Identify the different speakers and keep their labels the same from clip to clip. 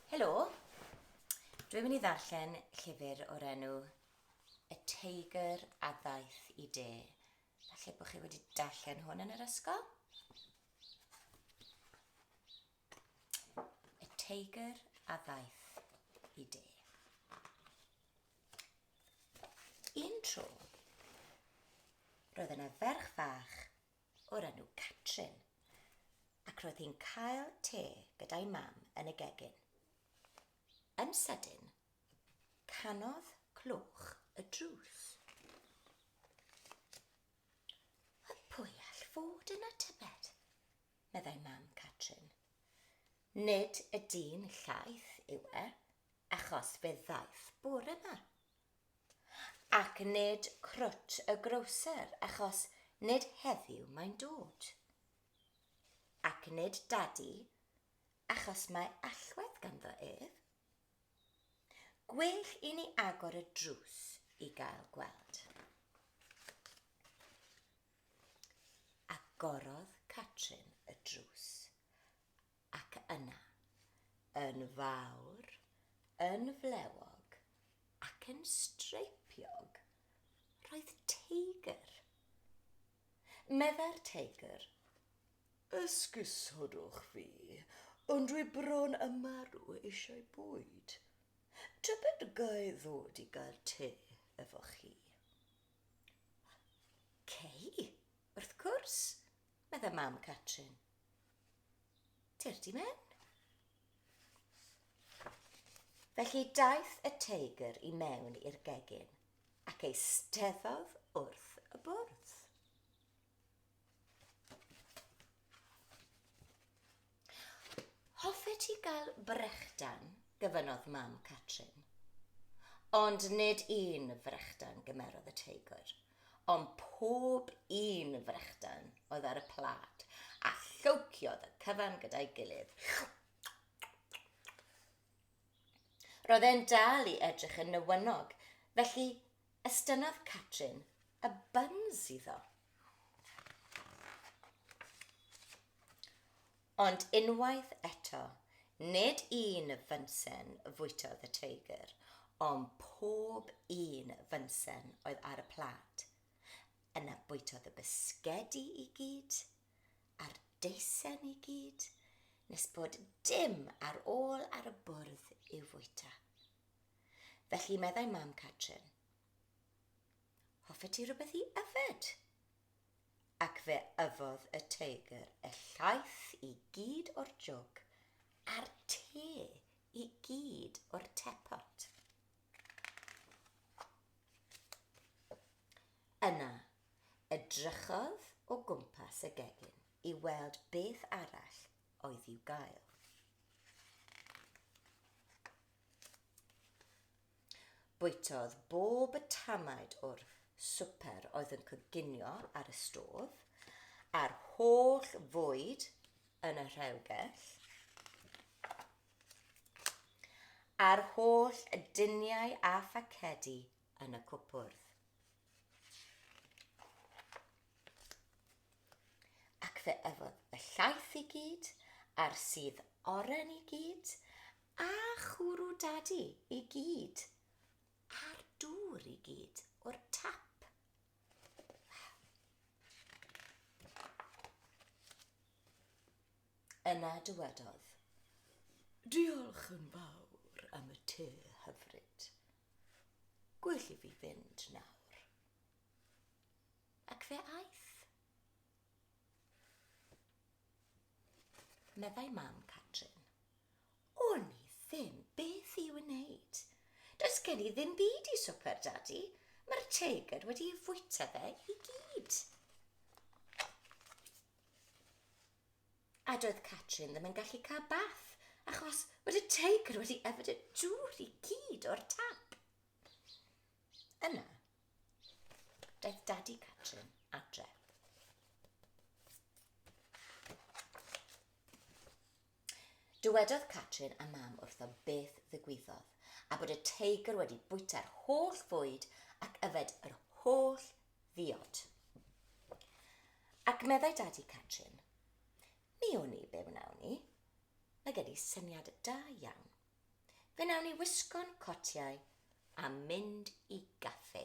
Speaker 1: Helo, dwi'n mynd i ddarllen llyfr o'r enw Y Teigr a Ddaeth i De. Falle bod chi wedi darllen hwn yn yr ysgol? Y Teigr a Ddaeth i De. Un tro, roedd yna ferch fach o'r enw Catrin, ac roedd hi'n cael te gyda'i mam yn y gegin. Yn sydyn, canodd clwch y drws. A pwy all fod yna tybed? meddai mam Catrin. Nid y dyn llaeth yw e, achos fe ddaeth bore yma, Ac nid crwt y grocer, achos nid heddiw mae'n dod. Ac nid dadi, achos mae allwedd ganddo ef. Gwell i ni agor y drws i gael gweld. Agorodd Catrin y drws. Ac yna, yn fawr, yn flewog, ac yn streipiog, roedd teigr. Meddai'r teigr, Esgusodwch fi, ond dwi bron a marw eisiau bwyd. Tybed ga'i ddod i gael te efo chi? Cei, wrth cwrs, Medda mam Catrin. Tir di mewn. Felly daeth y teigr i mewn i'r gegin ac eisteddodd wrth y bwrdd. Hoffet ti gael brechdan? gofynnodd mam Catrin. Ond nid un frechdan, gymerodd y teigwr, ond pob un frechdan oedd ar y plât, a llowciodd y cyfan gyda'i gilydd. Roedd e'n dal i edrych yn newynog, felly Estynnodd Catrin y buns iddo. Ond unwaith eto, nid un fynsen fwytodd y teigr, ond pob un fynsen oedd ar y plât. Yna bwytodd y bisgedi i gyd, a'r deisen i gyd, nes bod dim ar ôl ar y bwrdd i'w fwyta. Felly meddai mam Catrin, Hoffet ti rywbeth i yfed? Ac fe yfodd y teigr y llaeth i gyd o'r jwg a'r te i gyd o'r tepot. Yna, edrychodd o gwmpas y gegin i weld beth arall oedd i'w gael. Bwytodd bob y tamaid o'r swper oedd yn coginio ar y stôf, a'r holl fwyd yn y rhewgell, a'r holl duniau a phacedi yn y cwpwrdd. Ac fe yfodd y llaeth i gyd, a'r sudd oren i gyd, A chwrw Dadi i gyd. A'r dŵr i gyd o'r tap. Yna dywedodd, Diolch yn fawr am y te hyfryd. Gwell i fi fynd nawr. Ac fe aeth. Meddai Mam Catrin. O'n i ddim beth i'w wneud. Does gen i ddim byd i swper, Dadi. Mae'r teigr wedi ei fwyta fe i gyd. A doedd Catrin ddim yn gallu cael bath, achos bod y teigr wedi yfed y dŵr i gyd o'r tap. Yna, daeth Dadi Catrin adre. Dywedodd Catrin a Mam wrtho beth ddigwyddodd, a bod y teigr wedi bwyta'r holl fwyd ac yfed yr holl ddiod. Ac meddai Dad i Catrin, Mi wn i be wnawn ni. Mae gen i syniad da iawn. Fe wnawn ni wisgo'n cotiau a mynd i gaffi.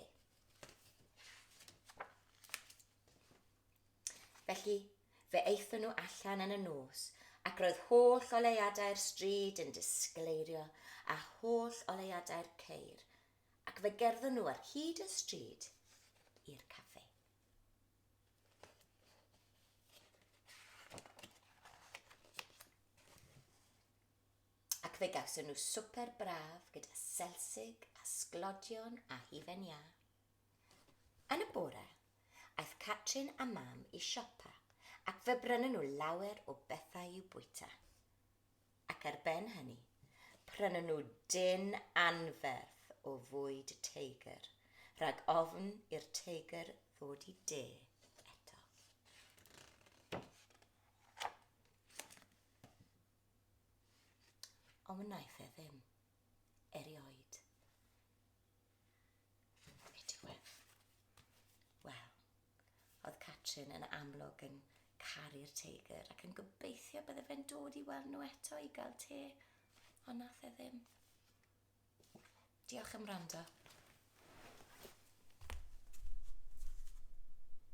Speaker 1: Felly, fe aethon nhw allan yn y nos, ac roedd holl oleuadau'r stryd yn disgleirio a holl oleuadau'r ceir, ac fe gerddon nhw ar hyd y stryd i'r café. Ac fe gawson nhw swper braf gyda selsig a sglodion a hufen iâ. Yn y bore, aeth Catrin a Mam i siopa ac fe brynon nhw lawer o bethau i'w bwyta. Ac ar ben hynny, prynon nhw dyn anferth o fwyd teigr, rhag ofn i'r teigr ddod i de eto. Ond wnaeth e ddim. erioed. Be diwedd? Wel, oedd Catrin yn amlwg yn caru'r teigr ac yn gobeithio bydde fe'n dod i weld nhw eto i gael te, ond nath e ddim. Diolch am rando.